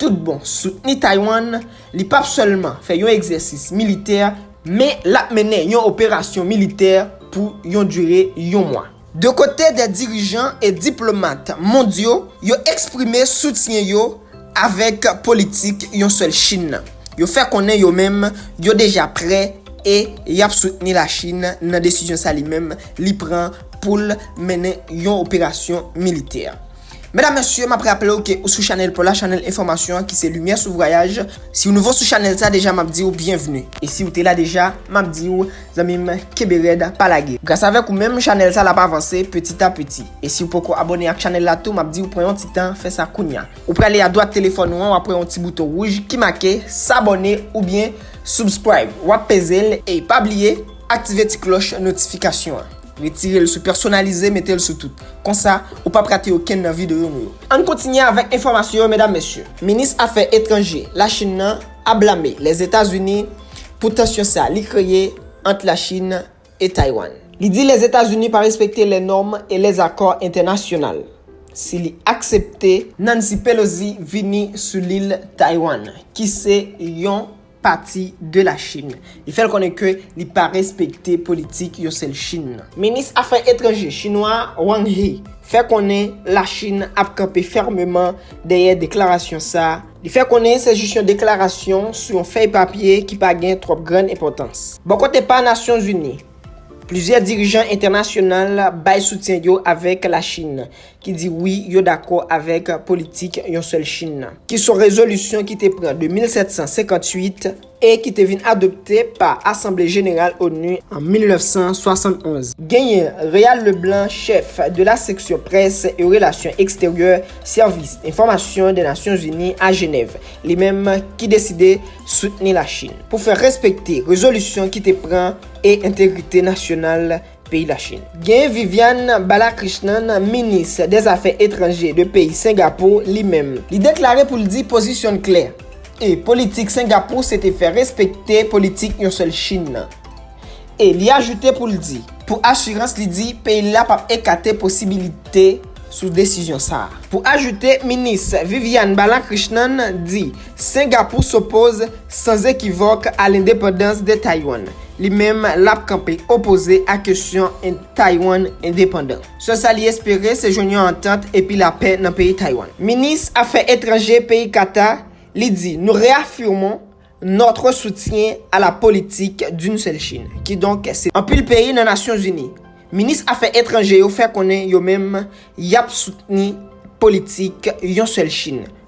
Tout bon, soutni Taiwan, li pap sèlman fè yon egzèsis militè, men lap mennen yon operasyon militè pou yon dire yon mwa. De kote dè dirijan e diplomat mondyo yo eksprime soutyen yo avèk politik yon sèl Chin nan, yo fè konnen yo menm yo deja prè e yap soutni la Chin nan desizyon sa li menm li pran poul mennen yon operasyon militè. Medam mesye map raple w ke ou sou chanèl paw la chanèl enfòmasyon an ki se limyè sou vwayaj si w nouvo sou chanèl sa deja map diw byenvni e siw te la deja map diw zanmi m kenbe rèd pa lage gras avèk ou menm chanèl sa lap avanse petit a petit e siw poko abòne ak chanèl la tou map diw pran yon ti tan fè sa kounya ou prale a dwat telefòn ou an wap wè yon ti bouton wouj ki make s'abonner oubyen subscribe wap peze l e pa bliye aktive ti klòch notifikasyon an. Retire l sou Pèsonalize mete l sou tout. Konsa, ou pap rate okenn nan videyo nou yo. Ann kontinye avèk enfòmasyon yo medam mesye. Minis afè etranje Lachin nan ap blame Lèzetazini pou tansyon sa li kreye ant Lachin e Taywann. Li di Lèzetazini pa respekte lè nòm e lè zakò entènasyonal si li aksepte Nancy Pelosi vini sou lil Taywann ki se yon pati de la Chine. Li fè l konnen ke li pa respekte politik yon sèl Chine nan. Minis afè etranje chinwa a, Wang He, fè konnen la Chine ap kanpe fèmeman dèyè deklarasyon sa a. Li fè konnen se jis yon deklarasyon sou yon fèy papye ki pa gen twòp grann enpòtans. Bò kote pa Nasyon Zini, plizyè dirijan entènasyonal bay soutyen yo avèk la Chine. ki di wi yo dakò avèk politik yon sèl Chin nan, ki son rezolisyon ki te pran de 1758 e ki te vin adopte pa Asanble Jeneral onu an 1971. Genyen Réal Leblanc, chèf de la seksyon près e relasyon eksteryè Sèvis Enfòmasyon dè Nasyon Zini a Jenèv, li menm ki deside soutni la Chin pou fè respekte rezolisyon ki te pran e entegrite nasyonal peyi Lachin. Gen Viviane Balakrishnan, minis dèzafè etranje de peyi Sengapou, li menm, li deklare pou l di pozisyon l klè, e politik Sengapou se te fè respekte politik yon sèl Chin nan. E li ajoute pou l di, pou asirans li di peyi l la p ap ekate posibilite sou desizyon sa a. Pou ajoute, minis Viviane Balakrishnan di, Sengapou s'opoz san zekivòk a lendepandans de Taiwan. Li menm lap kanpe opoze a kesyon Taiwan endepandan. Sèl sa li espere se jwenn yon antant epi lapè nan peyi Taiwan. Minis afè etranje peyi Kata li di Nou reafirmons notre soutien à la politique d'une seule Chine. Kidonk se anpil peyi nan Nasyon Zini. Minis afè etranje yo fè konnen yo menm yap soutni politik yon sèl Chine.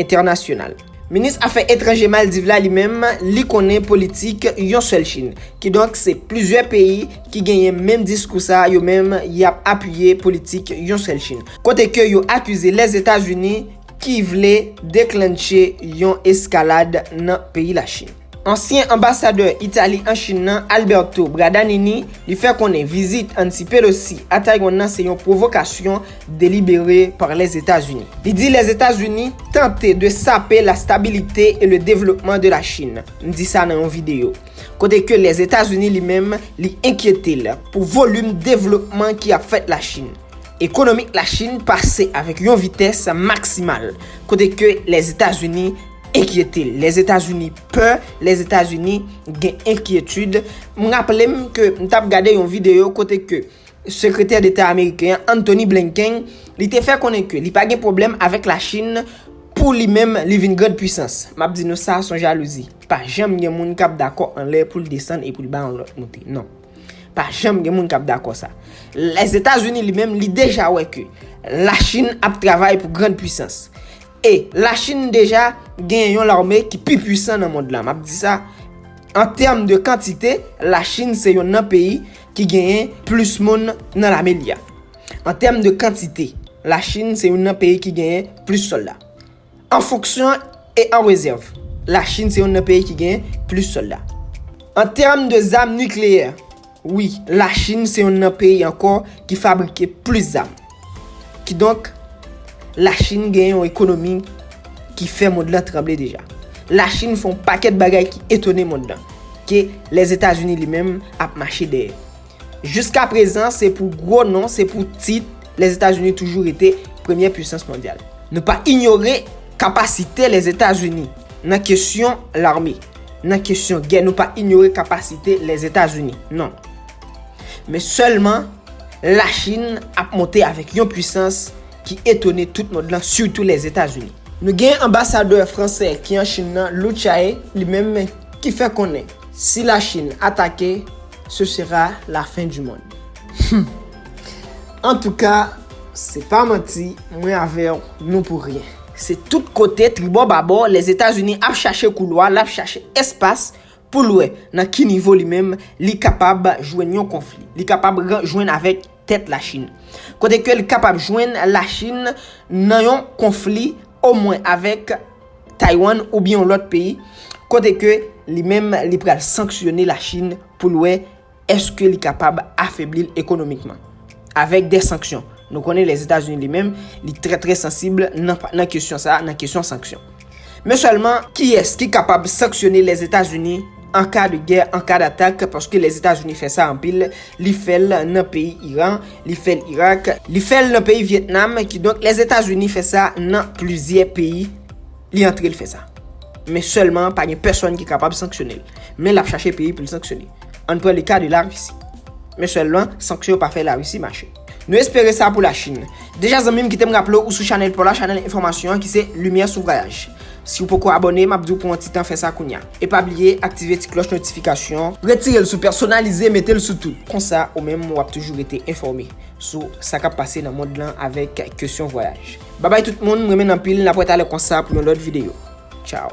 entènasyonal. Minis afè etranje Maldiv la li menm li konnen politik yon sèl Chin. Kidonk se plizyè peyi ki genyen menm diskou sa yo menm yap apiye politik yon sèl Chin. Kote ke yo akize Lèzetazini ki vle deklannche yon eskalad nan peyi la Chin. Ansyen anbasadè Itali an Chin nan, Alberto Bradanini, li fè konnen vizit Nancy Pelosi a Taiwan nan se yon pwovokasyon delibere par Lèzetazini. Li di Lèzetazini tante de sape la stabilite e le devlopman de la Chin, m di sa nan yon videyo, kote ke Lèzetazini li menm li enkyete l pou volim devlopman ki ap fèt la Chin. Ekonomik la Chin pase avèk yon vitès maksimal, kote ke Lèzetazini. enkyete l. Lèzetazini pè, Lèzetazini gen enkyetid. M raple m ke m t ap gade yon videyo kote ke Sekretè Deta ameriken an, Antony Blinken, li te fè konnen ke li pa gen pwoblèm avèk Lachin pou li menm li vin grand pwisans. M ap di nou sa s on jalouzi. Pa janm gen moun k ap dakò anlè pou l desann e pou l bay yon lòt moute. Non. Pa janm gen moun k ap dakò sa. Lèzetazini li menm li deja wè ke Lachin ap travay pou grand pwisans. E la chine deja gen yon larme ki pi pwisan nan mond la. Map di sa an tèm de kantite la chine se yon nan peyi ki genyen plis moun nan lame li a. An tèm de kantite la chine se yon nan peyi ki genyen plis solda. An fonksyon e an rezèv la chine se yon nan peyi ki genyen plis solda. An tèm de zam nikleyè. Wi, Lachin se yonn nan peyi ankò ki fabrike plis zam. Kidonk, Lachin gen yon ekonomi ki fè mond lan tranble deja. Lachin fè yon pakèt bagay ki etone mond lan, ke Lèzetazini li menm ap mache dèyè. Jiskaprezan, se pou gwo non, se pou tit, Lèzetazini toujou rete premyè puisans mondyal. Nou pa inyore kapasite Lèzetazini nan kesyon lame. Nan kesyon gè nou pa inyore kapasite Lèzetazini, non. Men sèlman, Lachin ap monte avèk yon pwisans ki etone tout mond lan, sitou Lèzetazini. Nou gen anbasadè fransè ki an Chin nan, Lu Chai, li menm ki fè konnen si Lachin atake, ce sera la fin du monde. Humm antouka se pa manti mwen avèw nou pou ryen. Se tout kote tribò babò Lèzetazini ap chache koulwa, lap chache espas pou l wè nan ki nivo li menm li kapab jwenn yon konfli, li kapab jwenn avèk tèt Lachin. Kote ke l kapab jwenn Lachin nan yon konfli omwen avèk Taywann oubyen yon lòt peyi, kote ke li menm li pral sanksyone Lachin pou l wè Eske li kapab afebli l ekonomikman? Avèk de sanksyon. Nou konnen Lèzetazini li menm, li trè trè sansib nan kesyon sa a, nan kesyon sanksyon. Men sèlman, kiyès ki kapab sanksyone Lèzetazini an ka de gè, an ka datak, paske Lèzetazini fè sa anpil, li fè l nan peyi Iran, li fè l Irak, li fè l nan peyi Vyetnam, kidonk Lèzetazini fè sa nan plizyè peyi, li antre l fè sa. Men sèlman, pa gen pèsòn ki kapab sanksyone l. Men l ap chache peyi pou l sanksyone. Ann pran le ka de Larisi. Men sèlman, sanksyon yo pa fè Larisi mache. Nou espere sa pou Lachin. Deja zanmi m kite m raple w ou sou chanèl paw la, chanèl enfòmasyon an ki se Limyè sou Vwayaj. Si w poko abòne, m ap di w pran yon ti tan fè sa kounya. E pa bliye aktive ti klòch notifikasyon. Retire l sou pèsonalize mete l sou tout. Konsa ou menm w ap toujou rete enfòme sou sa k ap pase nan mond lan avèk kesyon vwayaj. Babay tout moun, m renmen n anpil, n ap wè talè konsa pou yon lòt videyo. Tchaw!